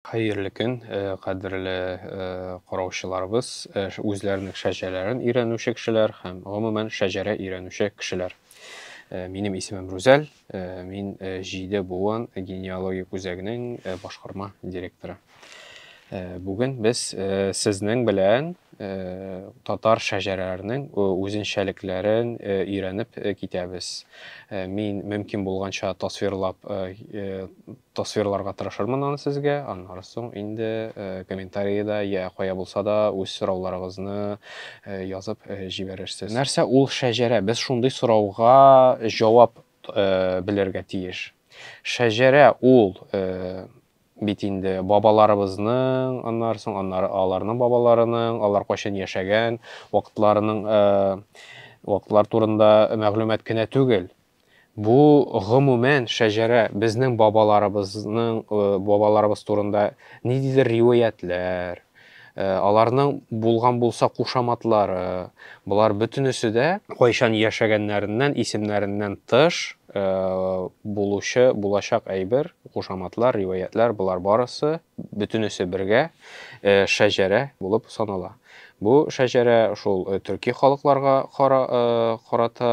Хәерле көн, кадерле караучыларыбыз, үзләренең шәҗәрәләрен өйрәнүче кешеләр һәм гомумән шәҗәрә өйрәнүче кешеләр. Э, минем исемем Рузәл, э, мин э, җиде буын генеалогик үзәгенең башкарма директоры. Бүген без сезнең белән татар шәҗәрәләренең үзенчәлекләрен өйрәнеп китәбез. Мин мөмкин булганча тасвирлап тасвирларга тырышырмын аны сезгә. Аннары соң инде комментариядә я кая булса да үз сорауларыгызны язып җибәрерсез. Нәрсә ул шәҗәрә? Без шундый сорауга җавап белергә тиеш. Шәҗәрә ул Бит инде, бабаларыбызның, аннары соң, аннары аларның бабаларының, алар кайчан яшәгән, вакытларының, вакытлар турында мәгълүмат кенә түгел, бу, гомумән, шәҗәрә, безнең бабаларыбызның, бабаларыбыз турында ниндидер риваятьләр, Аларның булган булса кушаматлары, болар бөтенесе дә кайчан яшәгәннәреннән, исемнәреннән тыш булучы, булачак әйбер, кушаматлар, риваятьләр, болар барысы, бөтенесе бергә шәҗәрә булып санала. Бу шәҗәрә шул төрки халыкларга карата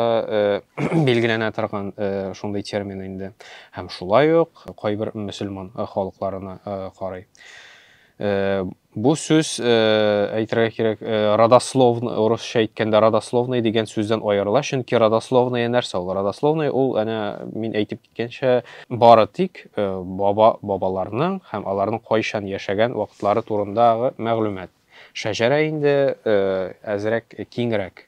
билгеләнә торган шундый термин инде. Һәм шулай ук кайбер мөселман халыкларына карый. Э, бу сүз э, әйтергә кирәк э, родословный урысча әйткәндә родословный дигән сүздән аерыла чөнки родословная нәрсә ул родословный ул әнә мин әйтеп киткәнчә бары тик баба бабаларның һәм аларның кайчан яшәгән вакытлары турындагы мәгълүмат шәҗәрә инде әзрәк киңрәк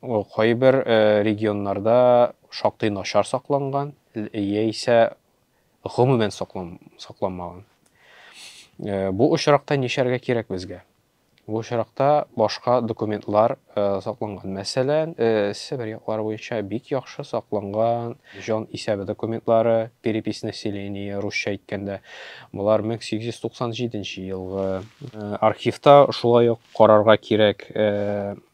Ул кайбер регионнарда шактый начар сакланган, яисә гомумән сакланмаган. Бу очракта нишләргә кирәк безгә? Бу очракта башка документлар сакланган. Мәсәлән, Себер яклары буенча бик яхшы сакланган җан исәбе документлары, перепись населения, русча әйткәндә. Болар 1897 елгы. Архивта шулай ук карарга кирәк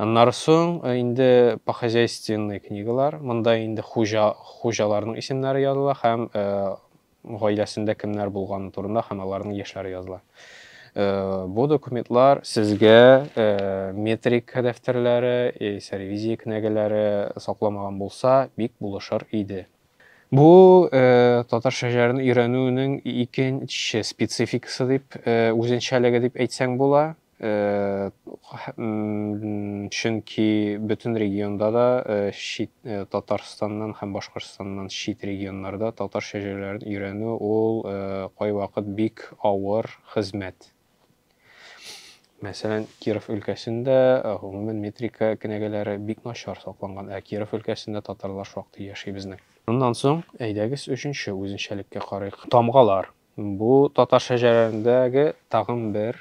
Аннары соң инде похозяйственный книгалар, монда инде хуҗа, хуҗаларның исемнәре языла һәм гаиләсендә кемнәр булганы турында һәм аларның яшьләре языла. Бу документлар сезгә метрика дәфтәрләре, яисә ревизия кенәгәләре сакламаган булса, бик булышыр иде. Бу татар шәҗәрен өйрәнүнең икенче спецификасы дип, үзенчәлеге дип әйтсәң була. Чөнки бөтен регионда да, чит Татарстаннан һәм Башкортстаннан чит регионнарда татарча җырларын өйрәнү ул кайвакыт бик авыр хезмәт. Мәсәлән, Киров өлкәсендә, гомумән, метрика кенәгәләре бик начар сакланган, ә Киров өлкәсендә татарлар шактый яши безнең. Моннан соң әйдәгез өченче үзенчәлеккә карыйк, тамгалар. Бу татар шәҗәрәләрендәге тагын бер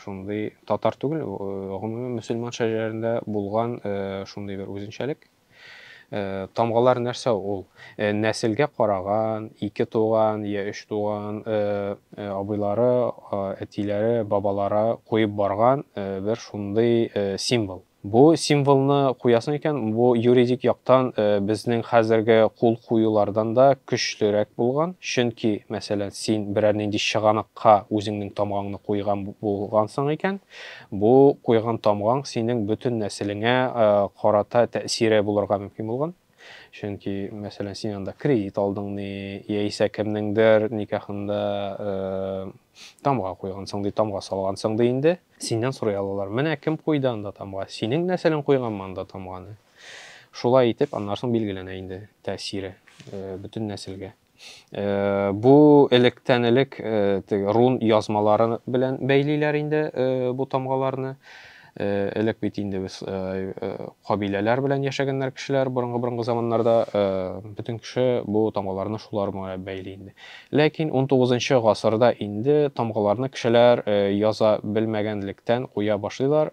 шундый татар түгел, гомумән мөселман шәҗәрәләрендә булган шундый бер үзенчәлек. Тамгалар нәрсә ул? Нәселгә караган, ике туган я өч туган абыйлары, әтиләре, бабалары куеп барган бер шундый символ. Бу символны куясың икән, бу юридик яктан безнең хәзерге кул куюлардан да көчлерәк булган, чөнки, мәсәлән, син берәр нинди чыганакка үзеңнең тамгаңны куйган булгансың икән, бу куйган тамгаң синең бөтен нәселеңә карата тәэсире булырга мөмкин булган. Чөнки, мәсәлән, син анда кредит алдың ни, яисә кемнеңдер никахында тамга куйгансың ди, тамга салгансың ди инде. Синнән сорый алалар, менә кем куйды анда тамга, синең нәселең куйганмы анда тамганы? Шулай итеп, аннан соң билгеләнә инде тәэсире бөтен нәселгә. Э, бу электән элек э, рун язмалары белән бәйлиләр инде э, бу тамгаларны элек бит инде без кабиләләр белән яшәгәннәр кешеләр борынгы борынгы заманнарда бөтен кеше бу тамгаларны шулар белән бәйли инде ләкин 19 гасырда инде тамгаларны кешеләр яза белмәгәнлектән куя башлыйлар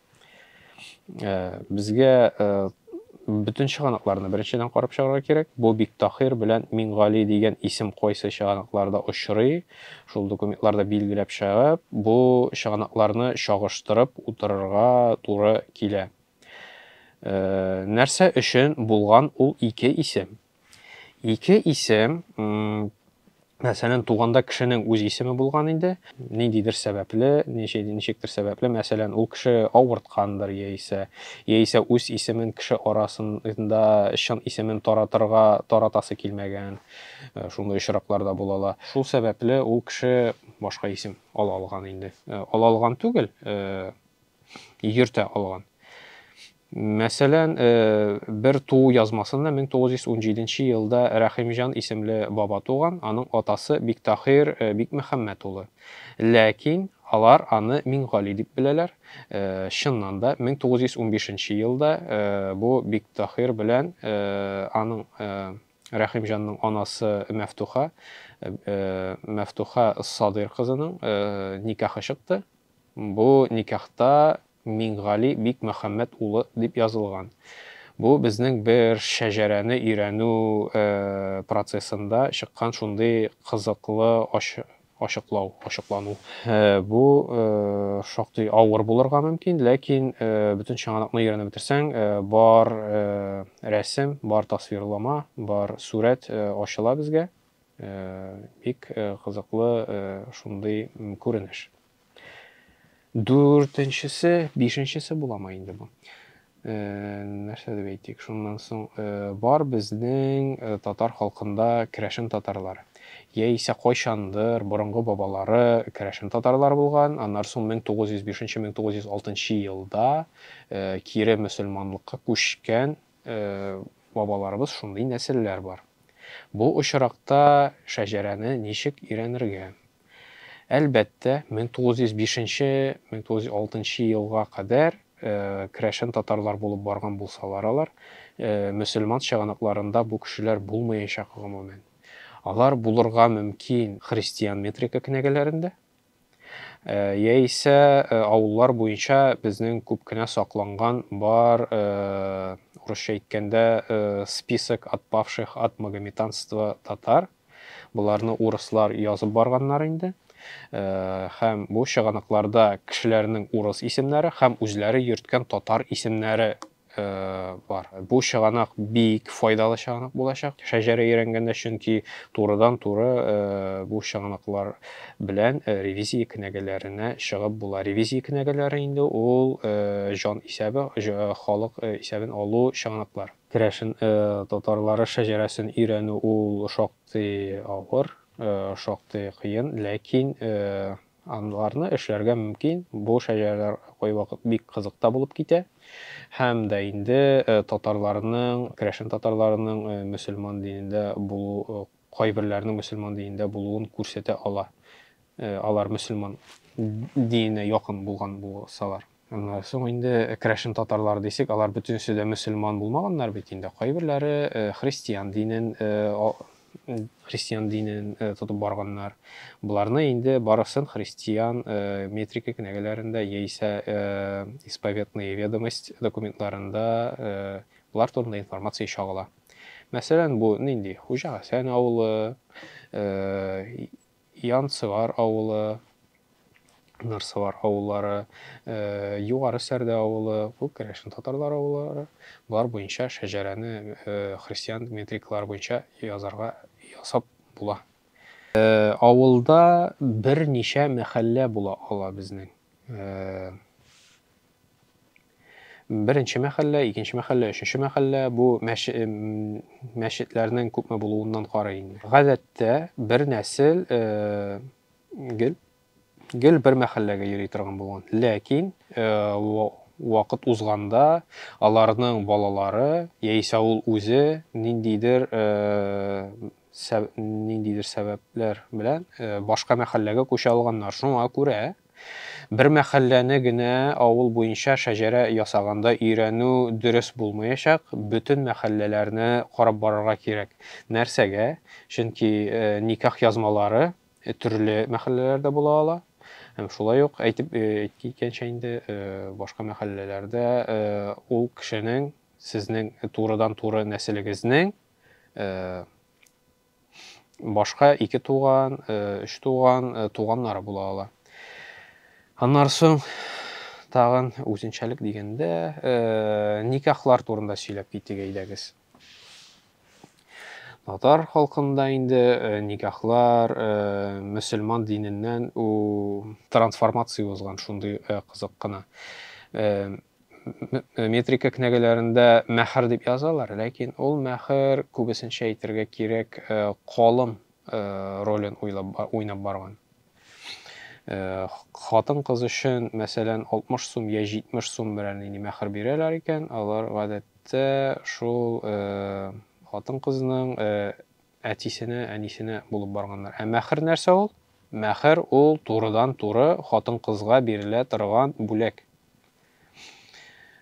Э, безгә э, бөтен чыганакларны беренчедән карап чыгарга кирәк. Бу бик тахир белән Мингали дигән исем кайсы чыганакларда очрый, шул документларда билгеләп чыгып, бу чыганакларны чагыштырып утырырга туры килә. Э, нәрсә өчен булган ул ике исем? Ике исем, мәсәлән, туганда кешенең үз исеме булган инде, ниндидер сәбәпле, ничектер сәбәпле, мәсәлән, ул кеше авырткандыр яисә, яисә үз исемен кеше арасында чын исемен таратырга таратасы килмәгән, э, шундый очраклар да булала. Шул сәбәпле ул кеше башка исем ала алган инде. Э, ала алган түгел, э, йөртә алган. Мәсәлән, бер туу язмасында 1917 елда Рәхимҗан исемле баба туган, аның атасы Биктахир Бикмөхәммәт улы. Ләкин алар аны Миңгали дип беләләр. Чыннан да, 1915 елда бу Биктахир белән аның Рәхимҗанның анасы Мәфтуха, Мәфтуха Садыйр кызының никахы чыкты. Бу никахта Миңгали бик Мөхәммәт улы дип язылган. Бу безнең бер шәҗәрәне өйрәнү процессында чыккан шундый кызыклы ачыклау, ачыклану. Бу шактый авыр булырга мөмкин, ләкин бөтен чыганакны өйрәнеп бетерсәң, бар рәсем, бар тасвирлама, бар сурәт ачыла безгә. Бик кызыклы шундый күренеш. Дүртенчесе, бишенчесе буламы инде бу? Э, нәрсә дип әйтик, шуннан соң э, бар безнең э, татар халкында керәшен татарлар. Яисә кайчандыр борынгы бабалары керәшен татарлар булган, аннары соң 1905-1906 елда кире мөселманлыкка күчкән Бабаларыбыз шундый нәселләр бар. Бу очракта шәҗәрәне ничек өйрәнергә? Әлбәттә, 1905-1906 елга кадәр керәшен татарлар булып барган булсалар алар, мөселман чыганакларында бу кешеләр булмаячак гомумән. Алар булырга мөмкин христиан метрика кенәгәләрендә, Яисә авыллар буенча безнең күп кенә сакланган бар, урысча әйткәндә, список отпавших от магометанства татар. Боларны урыслар язып барганнар инде. Һәм бу чыганакларда кешеләрнең урыс исемнәре һәм үзләре йөрткән татар исемнәре бар. Бу чыганак бик файдалы чыганак булачак шәҗәрә өйрәнгәндә, чөнки турыдан-туры бу чыганаклар белән ревизия кенәгәләренә чыгып була. Ревизия кенәгәләре инде ул җан исәбе, халык исәбен алу чыганаклар. Керәшен татарлары шәҗәрәсен өйрәнү ул шактый авыр, шактый кыен, ләкин Анларны эшләргә мөмкин, бу шәҗәрәләр кайвакыт бик кызык та булып китә һәм дә инде татарларның, керәшен татарларының мөселман динендә булу, кайберләренең мөселман динендә булуын күрсәтә ала, алар мөселман диененә якын булган булсалар. Соң инде крәшен татарлары дисек, алар бөтенесе дә мөселман булмаганнар бит инде. Кайберләре христиан динен христиан динен тотып барганнар. Боларны инде барысын христиан метрика кенәгәләрендә яисә исповетные ведомость документларында болар турында информация чагыла. Мәсәлән, бу нинди? Хуҗа Хәсән авылы, Янцевар авылы, Нырсывар авыллары, Югары Сәрдә авылы, бу керәшен татарлар авыллары, болар буенча шәҗәрәне христиан метрикалары буенча язарга, ясап була. Авылда берничә мәхәллә була ала безнең. Беренче мәхәллә, икенче мәхәллә, өченче мәхәллә бу мәш, мәчетләрнең күпме булуыннан карый инде. Гадәттә бер нәсел э, гел гел бер мәхәлләгә йөри торган булган. Ләкин э, вакыт узганда аларның балалары яисә ул үзе ниндидер э, сәб, ниндидер сәбәпләр белән э, башка мәхәлләгә күчә алганнар. Шуңа күрә Бер мәхәлләне генә авыл буенча шәҗәрә ясаганда өйрәнү дөрес булмаячак, бөтен мәхәлләләрне карап барырга кирәк. Нәрсәгә? Чөнки никах язмалары төрле мәхәлләләрдә була ала. Һәм шулай ук әйтеп киткәнчә инде, башка мәхәлләләрдә ул кешенең, сезнең турыдан-туры нәселегезнең башка ике туган, өч туган, туганнары була ала. Аннары соң тагын үзенчәлек дигәндә никахлар турында сөйләп китик әйдәгез. Татар халкында инде никахлар мөселман диненнән у трансформация узган шундый кызык кына. метрика кнәгәләрендә мәхәр дип язалар, ләкин ул мәхәр күбесенчә әйтергә кирәк колым ролен уйнап барган. Хатын-кыз өчен, мәсәлән, 60 сум я 70 сум белән инде мәхәр бирәләр икән, алар гадәттә шул хатын-кызның Әтисенә, әнисенә булып барганнар. Ә мәхер нәрсә ул? Мәхер ул турыдан-туры хатын-кызга бирелә торган бүләк.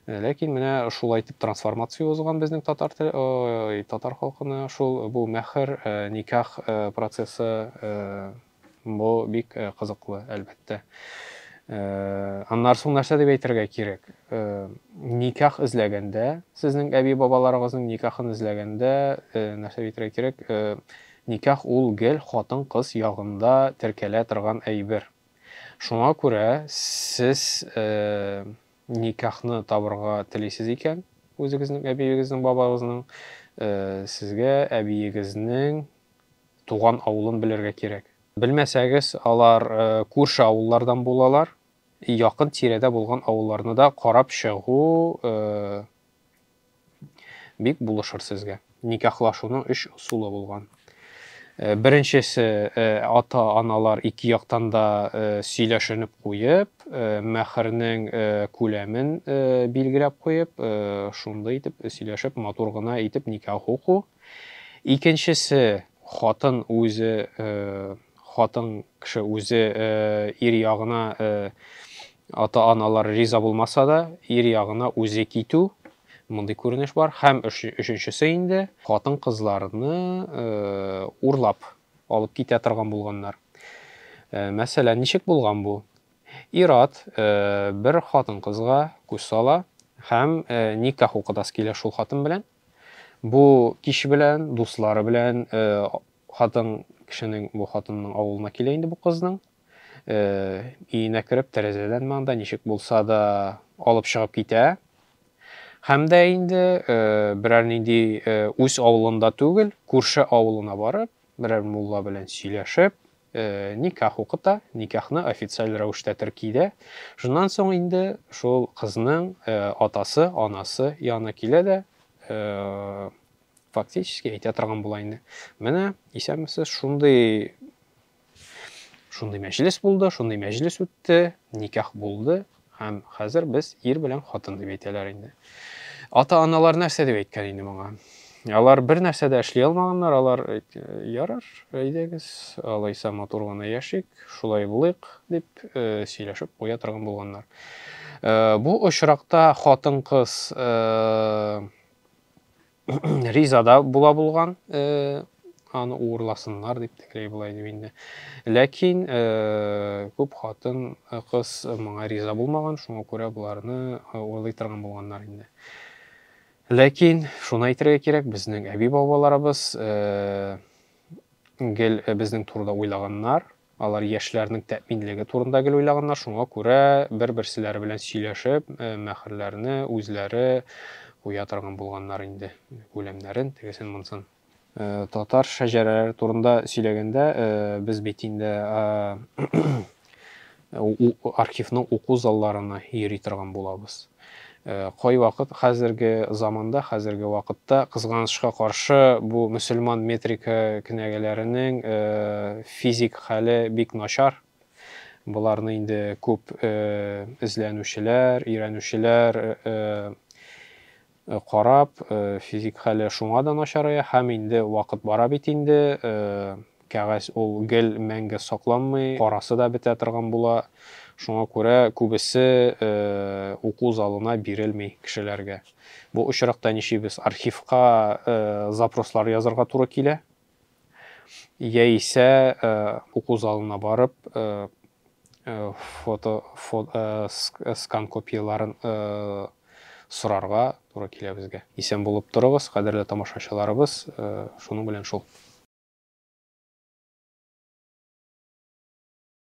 Ләкин менә шулай итеп трансформация узган безнең татар татар халкына шул бу мәхер, никах процессы Бу бик кызыклы, әлбәттә. Аннары соң нәрсә дип әйтергә кирәк? Никах эзләгәндә, сезнең әби-бабаларыгызның никахын эзләгәндә, нәрсә дип әйтергә кирәк? Никах ул гел хатын-кыз ягында теркәлә торган әйбер. Шуңа күрә сез никахны табырга телисез икән, үзегезнең әбиегезнең, бабагызның, сезгә әбиегезнең туган авылын белергә кирәк. Белмәсәгез, алар күрше авыллардан булалар, якын тирәдә булган авылларны да карап чыгу бик булышыр сезгә. Никахлашуның өч ысулы булган. Беренчесе, ата-аналар ике яктан да сөйләшенеп куеп, мәхернең күләмен билгеләп куеп, шундый итеп сөйләшеп, матур гына итеп никах уку. Икенчесе, хатын үзе, хатын кеше үзе ир ягына ата-аналар риза булмаса да, ир ягына үзе китү, мондый күренеш бар. Һәм өченчесе инде, хатын-кызларны урлап алып китә торган булганнар. Мәсәлән, ничек булган бу? Ират бер хатын-кызга күз сала һәм никах укытасы килә шул хатын белән. Бу кич белән дуслары белән хатын кешенең бу хатынның авылына килә инде бу кызның. Өенә кереп, тәрәзәдән манда ничек булса да алып чыгып китә. Һәм дә инде берәр нинди үз авылында түгел, күрше авылына барып, Берәр мулла белән сөйләшеп, никах укыта, никахны официаль рәвештә терки дә. Шуннан соң инде шул кызның атасы, анасы янына килә дә, фактически әйтә торган була инде. Менә, исәнмесез, шундый шундый мәҗлес булды, шундый мәҗлес үтте, никах булды, Һәм хәзер без ир белән хатын дип әйтәләр инде. Ата-аналар нәрсә дип әйткән инде моңа? Алар бер нәрсә дә эшли алмаганнар, алар ярар, әйдәгез, алайса матур гына яшик, шулай булыйк дип э, сөйләшеп куя торган булганнар. Э, бу очракта хатын-кыз э, ризада була булган аны уырласыннар дип тегеләй болай дип инде ләкин күп хатын кыз моңа риза булмаган шуңа күрә боларны урлый торган булганнар инде ләкин шуны әйтергә кирәк безнең әби бабаларыбыз гел безнең турыда уйлаганнар Алар яшьләрнең тәэминлеге турында гел уйлаганнар, шуңа күрә бер-берселәре белән сөйләшеп, мәһрләрне үзләре куя торган булганнар инде, күләмнәрен, тегесен-монысын. Татар шәҗәрәләре турында сөйләгәндә, без бит инде архивның уку залларына йөри торган булабыз. Кайвакыт хәзерге заманда, хәзерге вакытта, кызганычка каршы, бу мөселман метрика кенәгәләренең физик хәле бик начар. Боларны инде күп эзләнүчеләр, өйрәнүчеләр карап, физик хәле шуңа да начарая һәм инде вакыт бара бит инде, Кәгазь ул гел мәңге сакланмый, карасы да бетә торган була. Шуңа күрә күбесе уку залына бирелми кешеләргә. Бу очракта ничибез? Архивка запрослар язырга туры килә, яисә уку залына барып фото скан копияләрен сорарга туры килә безгә. Исән булып торыгыз, кадерле тамашачыларыбыз, шуның белән шул.